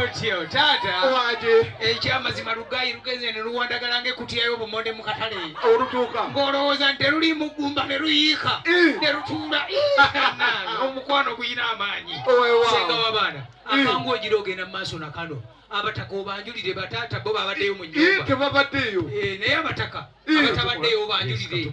otyo taata wanje ekyamazima lugayi lugenze ne luwandagala ng'ekutiyayo obumonde mu katale olutuuka ng'olowooza nti teruli mu ggumba ne luyiika ne lutuula omukwano guyina amaanyi senga w'abaana akangu ogira ogenda mu maaso na kano abataka obanjulire bataata bo babaddeyo mu nyumba tebabaddeyo eh, naye abataka abatabaddeyo obanjulire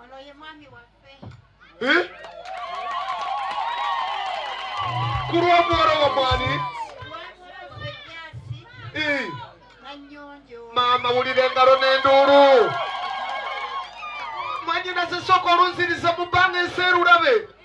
Ono ye mwami waffe. Eh? Ku lw'omwola wa mwani? Eh. Maama wulira engalo n'enduulu. Mwanyinaze sooka olunziriza mu bbanga enseerulabe.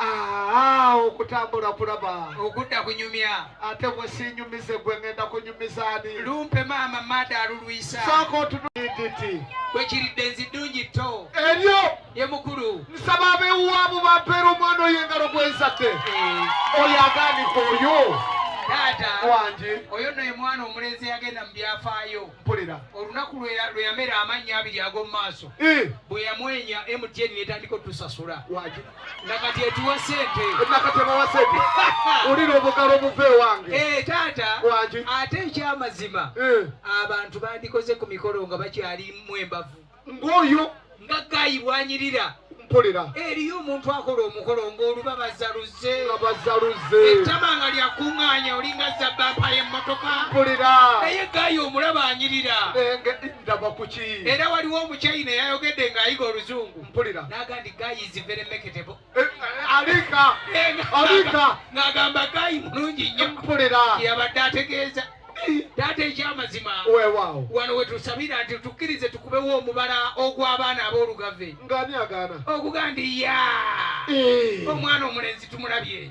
Aa, okutambula kulaba. Okudda kunyumya. Ate bwe siinyumize gwe ngenda kunyumiza ani? Lumpe maama mada alulwisa. Sooka otunuiditi. Bwe kiridde nzi ddungi tto. Eryo. Ye mukulu. Nsaba abewuwaamu bampeera omwana oyo engalo gwe nzadde. Eh. Oyo agaanika oyo. Taata. Wangi. Oyo nno ye mwana omulenzi yagenda mu byafaayo. Mpulira. Olunaku lwe yamera amannya abiri ag'omu maaso. Eh. Bwe yamwenya MTN netandika otusasula. Wangi. nga kati etuwa sente nakatebawa sente ulira obugalo obuva ewange eh, taata wangi ate ekyamazima eh. abantu bandikoze ku mikolo nga bakyalimu embavu ng'oyo nga gayi bwanyirira mpulira eriyo omuntu akola omukolo ng'oluba bazaluze bazaluze ettama nga lyakuŋŋaanya olinga zabbampa y'emmotoka mpulira naye gayi omulaba anyirira ndaba kuki era waliwo omukyayina yayogedde ng'ayiga oluzungu mpulira nagandi guy is very meketable eh, eh, alika alika nagamba guy mulungi nnyo mpulira yabadde ategeeza taata ekyamazima wewawo wano wetusabira nti tukkirize tukubewo omubala ogw'abaana ab'olugave ngani agaana okuga ndi ya eh. omwana omulenzi tumulabye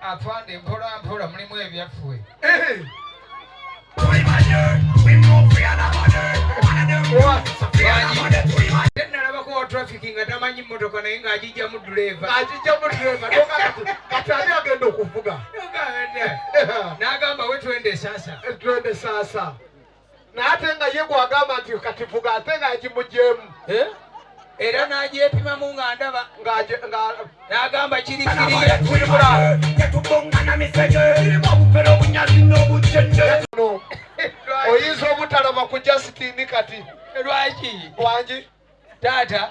Afande mpola mpola mulimu ebyaffe. Eh. Nalabako wa traffic nga tamanyi mmotoka naye ng'agijjamu duleva. Agijjamu duleva kati ani agenda okuvuga? N'agamba we twende sasa. Twende sasa. naye ate nga ye gwagamba nti kati vuga ate nga yagimugyemu eh? era nagyepimamu nga ndaba nagamba kirioyinza obutalaba ku jasitini kati lwaki wangi taata